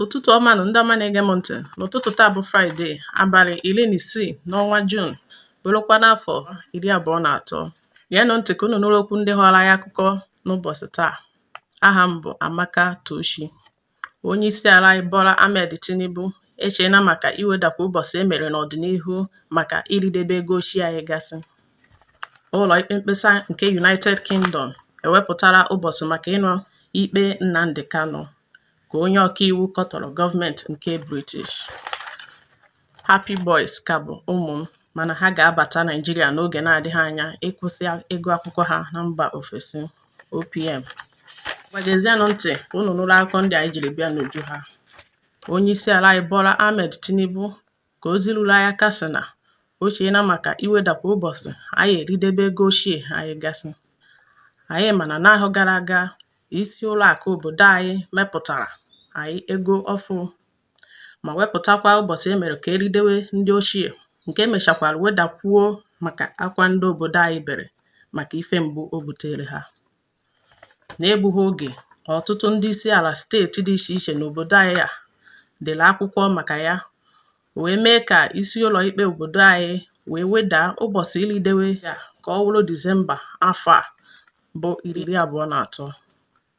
ụtụtụ ọma nụ ndị ọma na-ege m ntị n'ụtụtụ taa bụ fraịde abalị iri na isii n'ọnwa juun bụrụkwa n'afọ iri abụọ na atọ geenụ ntị ka unu nụrụ okwu ndị ghọrọ anyị akụkọ n'ụbọchị taa aha m bụ amaka tochi onye isi ala anyị bola ahmed tinubu echeela maka iwedakwa ụbọchị e mere n'ọdịnihu maka iridebe ego ochie anyị gasị ụlọ ikpe mkpesa nke united kingdom ewepụtara ụbọchị maka ịnụ ikpe nnamdi kanu ka onye ọkaiwu kọtọrọ gọọmenti nke British. Happie Boys ka bụ ụmụ m mana ha ga-abata Naịjirịa n'oge na-adịghị anya ịkwụsị ego akwụkwọ ha na mba ofesi OPM. Ngwa geezienụ ntị ka unu nụrụ akụkọ ndị anyị jiri bịa n'uju ha. Onyeisiala anyị Bola Ahmed Tinubu Ka ozi ruru anyị aka sị na o cheela maka iwedakwa ụbọchị anyị eridebe ego ochie anyị gasị. Anyị ma na n'ahọ gara aga isi ụlọ akụ obodo anyị mepụtara anyị ego ọfụ ma wepụtakwa ụbọchị e mere ka eridewe ndị ochie nke mechakwara wedakwuo maka akwa ndị obodo anyị bere maka ife mgbu o buteere ha. N'egbughị oge, ọtụtụ ndị isi ala steeti dị iche iche n'obodo anyị a dere akwụkwọ maka ya wee mee ka isi ụlọ ikpe obodo anyị wee wedaa ụbọchị iridewe ya ka ọ wụrụ Disemba afọ a bụ iri abụọ na atọ.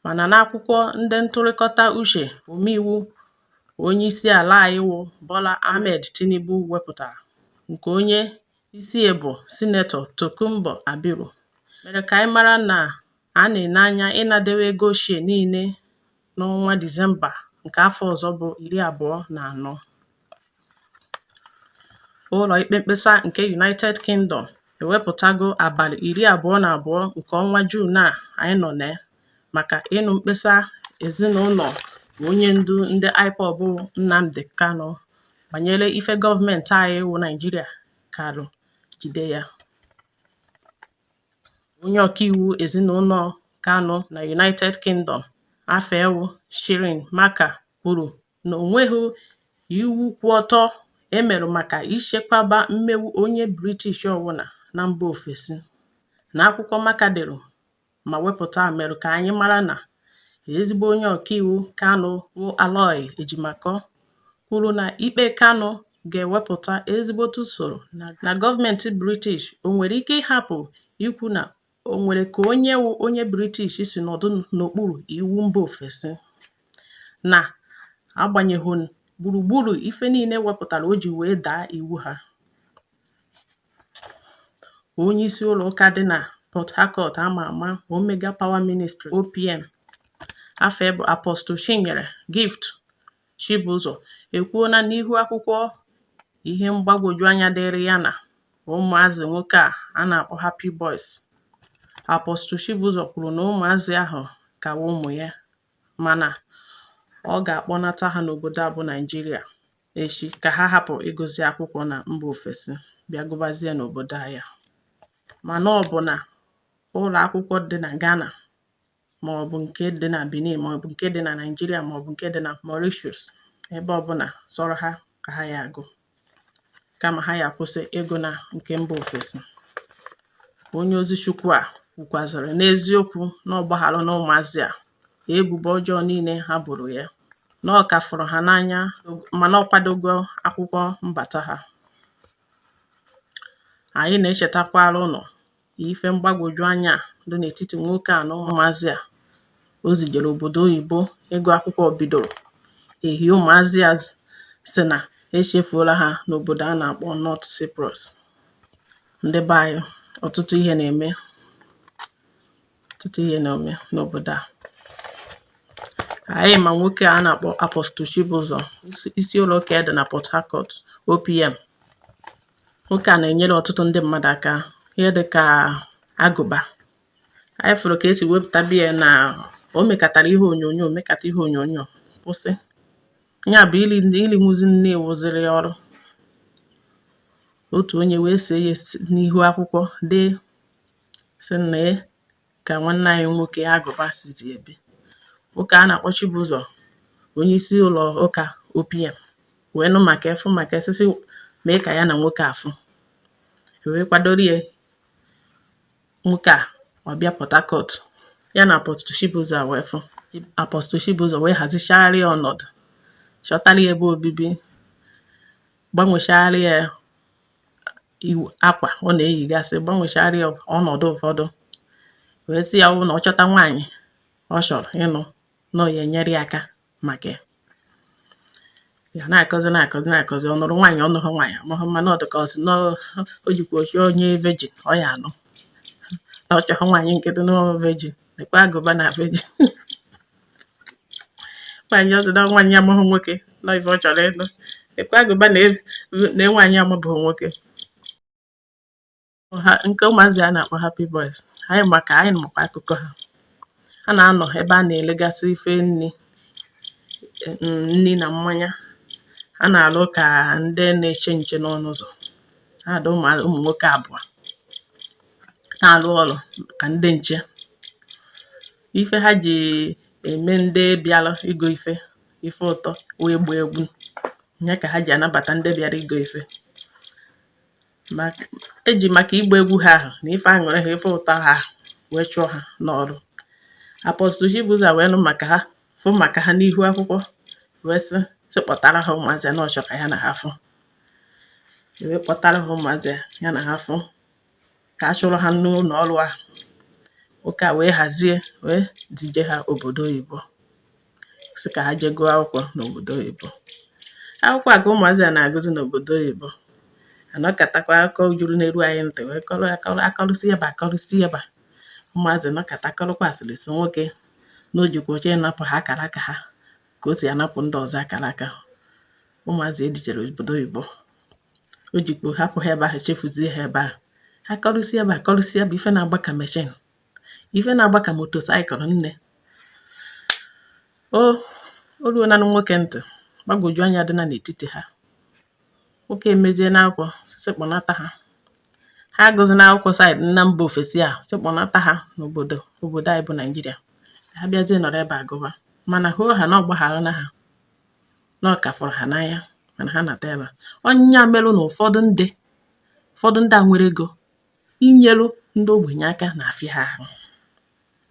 Mana n'akwụkwọ ndị ntụrịkọta uche omeiwu onye isi ala anyị wụ Bola Ahmed Tinubu wepụtara nke onye isi ya bụ Sinetọ Tokunbo Abiru mere ka anyị mara na a na-ene anya ịnadewe ego ochie niile n'ọnwa Disemba nke afọ ọzọ bụ iri abụọ na anọ. Ụlọ ikpe mkpesa nke United Kingdom ewepụtago abalị iri abụọ na abụọ nke ọnwa Juun a anyị nọ na ya maka ịnụ mkpesa ezinụlọ onye ndu ndị IPOB Nnamdi Kanu banyere ife gọọmenti anyị wụ Naịjirịa karụ jide ya. Onye ọkaiwu ezinụlọ Kanu na United Kingdom afa ya wụ Shirin Marker kwuru na o nweghị iwu kwụ ọtọ e merụ maka ichekwaba mmegbu onye British ọbụla na mba ofesi. N'akwụkwọ Marker dere, ma wepụta merụ ka anyị mara na ezigbo onye ọkaiwu Kanu wụ Aloy Ejimakor kwuru na ikpe Kanu ga-ewepụta ezigbote usoro na gọọmenti British o nwere ike ịhapụ ikwu na o nwere ka onye wụ onye British si nọdụ n'okpuru iwu mba ofesi na agbanyeghị gburugburu ife niile wepụtara o ji wee daa iwu ha onye isi ụlọ ụka dị na Port Harcourt ama ama Omega Power Ministry OPM afa ya bụ Apostle Chinyere Gift Chibụzọ ekwuona n'ihu akwụkwọ ihe mgbagwoju anya dịrị ya na ụmụazị nwoke a a na-akpọ Happy Boys Apostle Chibụzọ kwuru na ụmụazị ahụ ka wụ ụmụ ya mana ọ ga-akpọnata ha n'obodo a bụ Naịjirịa echi ka ha hapụ ịgụzi akwụkwọ na mba ofesi bịa gụbazie n'obodo anyị a. Mana ọ bụ na ụlọ akwụkwọ dị na Ghana ma ọ bụ nke dị na Benin ma ọ bụ nke dị na Naịjirịa ma ọ bụ nke dị na Mauritius ebe ọbụla sọrọ ha ka ha ya-agụ kama ha ya-akwụsị ịgụ na nke mba ofesi. Onye ozi Chukwu a kwukwazịrị n'eziokwu na ọ gbagharụna ụmụazị a ebubo ọjọọ niile ha boro ya na ọ ka fụrụ ha n'anya mana ọ kwadogo akwụkwọ mbata ha anyị na-echetakwara ụnụ ife mgbagwoju anya dị n'etiti nwoke a na ụmụazị a o zijere obodo oyibo ịgụ akwụkwọ bidoro ehi ụmụazị a sị na echefuola ha n'obodo a na-akpọ North Cyprus ndị be anyị ọtụtụ ihe na-eme ọtụtụ ihe na-eme n'obodo a anyị ma nwoke a na-akpọ Apostle Chibụzọ isi ụlọ ụka dị na Port Harcourt OPM nwoke a na-enyere ọtụtụ ndị mmadụ aka ihe dị ka Agụba anyị fụrụ ka e si wepụta be ya na o mekatara ihe onyonyo mekata ihe onyonyo kwụsị ya bụ irinwuzi nni wụziri ya ọrụ otu onye wee see ya n'ihu akwụkwọ dee sị nee ka nwanne anyị nwoke Agụba sizi ebi nwoke a na-akpọ Chibụzọ onye isi ụlọ ụka OPM wee nụ maka ife afụ maka esisi mee ka ya na nwoke a fụ wee kwadoro ya nwoke a ọ bịa Port Harcourt ya na Apostle Chibụzọ wee fụ Apostle Chibụzọ wee hazichara ya ọnọdụ chọtara ya ebe obibi gbanwechara ya akwa ọ na-eyigasị gbanwechara ya ọnọdụ ụfọdụ wee sị ya ọ bụrụ na ọ chọta nwaanyị ọ chọrọ ịnụ na ọ ya-enyere ya aka maka ya a na-akọzi na-akọzi na-akọzi ọ nụrụ nwaanyị ọ nụhụ nwaanyị amahụ m mana ọ dị ka ọ sị na o jikwa ochi onye virgin ọ ya-anụ na ọ chọghị nwaanyị nkịtị na virgin lekwa Agụba na virgin nwaanyị ọzọ na nwaanyị amahụ nwoke na ife ọ chọrọ ịnụ ekwe Agụba na nwaanyị amabụghị nwoke nke ụmụazị a na-akpọ happy boys anyị maka anyị makwa akụkọ ha ha na-anọ ebe a na-elegasị ife nri nri na mmanya ha na-alụ ka ndị na-eche nche n'ọnụ ụzọ ha dị ụmụ nwoke abụọ na-alụ ọrụ ka ndị nche ife ha ji eme ndị bịara igo ife ife ụtọ wee gbaa egwu ya ka ha ji anabata ndị bịara igo ife e ji maka ịgba egwu ha ahụ na ife aṅụrị ha ife ụtọ ha wee chụọ ha n'ọrụ apọstụl Chibuzo wee nụ maka ha fụ maka ha n'ihu akwụkwọ wee sị sị kpọtara ha ụmụazị na ọ chọ ka ya na ha fụ wee kpọtara ha ụmụazị ya na ha fụ ka a chụrụ ha n'ụlọ ọrụ ahụ ụka wee hazie wee zije ha obodo oyibo sị ka ha jee gụọ akwụkwọ n'obodo oyibo akwụkwọ a ka ụmụazị a na-agụzi n'obodo oyibo a nọkatakwa akụkọ juru na-eru anyị ntị wee kọrọ akọrọ akọrụsi ebe akọrụsi ebe ụmụazị nọkata akọrọkwa asịrị sị nwoke na ọ dị ka ọ chọ ịnapụ ha akara aka ha ka o si anapụ ndị ọzọ akara aka ụmụazị e zijere obodo oyibo o jikọ hapụ ha ebe ahụ chefuzie ha ebe ahụ ha kọrụsie ebe a kọrụsie bụ ife na-agba ka meshin ife na-agba ka motosaịkụl nne o o ruonanụ nwoke ntị gbagwoju anya dị na n'etiti ha nwoke emezie n'akwụkwọ sị kpọnata ha ha agụzina akwụkwọ saịdị na mba ofesi a sị kpọnata ha n'obodo obodo anyị bụ Naịjirịa ha bịazie nọrọ ebe a gụba mana hoo ha na ọ gbagharana ha na ọ ka fụrụ ha n'anya mana ha nata ebe a ọ ya meru na ụfọdụ ndị ụfọdụ ndị a nwere ego inyelu ndị ogbenye aka na-afịa ha ahụ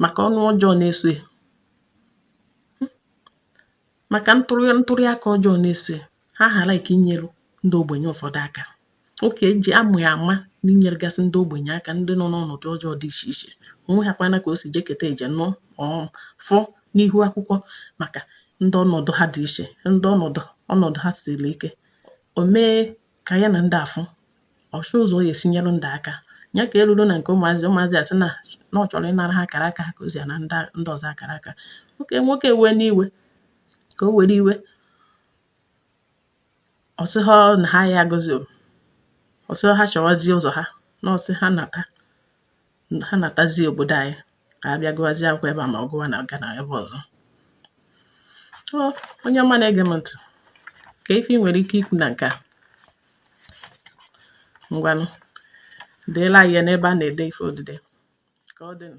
maka ọnụ ọjọọ na-eso ya maka ntụrụ aka ọjọọ na-eso ya ha ghara ike inyelu ndị ogbenye ụfọdụ aka nwoke e ji ama ya ama n'inyeregasị ndị ogbenye aka ndị nọ n'ọnọdụ ọjọọ dị iche iche o nwehakwana ka o si jekata eje na ọ fụ n'ihu akwụkwọ maka ndị ọnọdụ ha dị iche ndị ọnọdụ ọnọdụ ha siri ike o mee ka ya na ndị afụ ọ chọọ ụzọ ya-esi nyere ndị aka ya ka e ruru na nke ụmụazị ụmụazị asị na na ọ chọrọ ịnara ha akara aka ha ka o si ana ndị ọzọ akara aka nwoke nwoke wee n'iwe ka o were iwe ọ sị ha na ha ya agụzi ọ sị ha chọwazie ụzọ ha na ọ sị ha nata ha natazie obodo anyị ka a bịa gụwazie akwụkwọ ebe a ma ọ gụwa na-aga n'ebe ọzọ so onye ọma na-ege m ntị ka ife ị nwere ike ikwu na nke a ngwanụ deela ya n'ebe a na-ede ife odide ka ọ dịnụ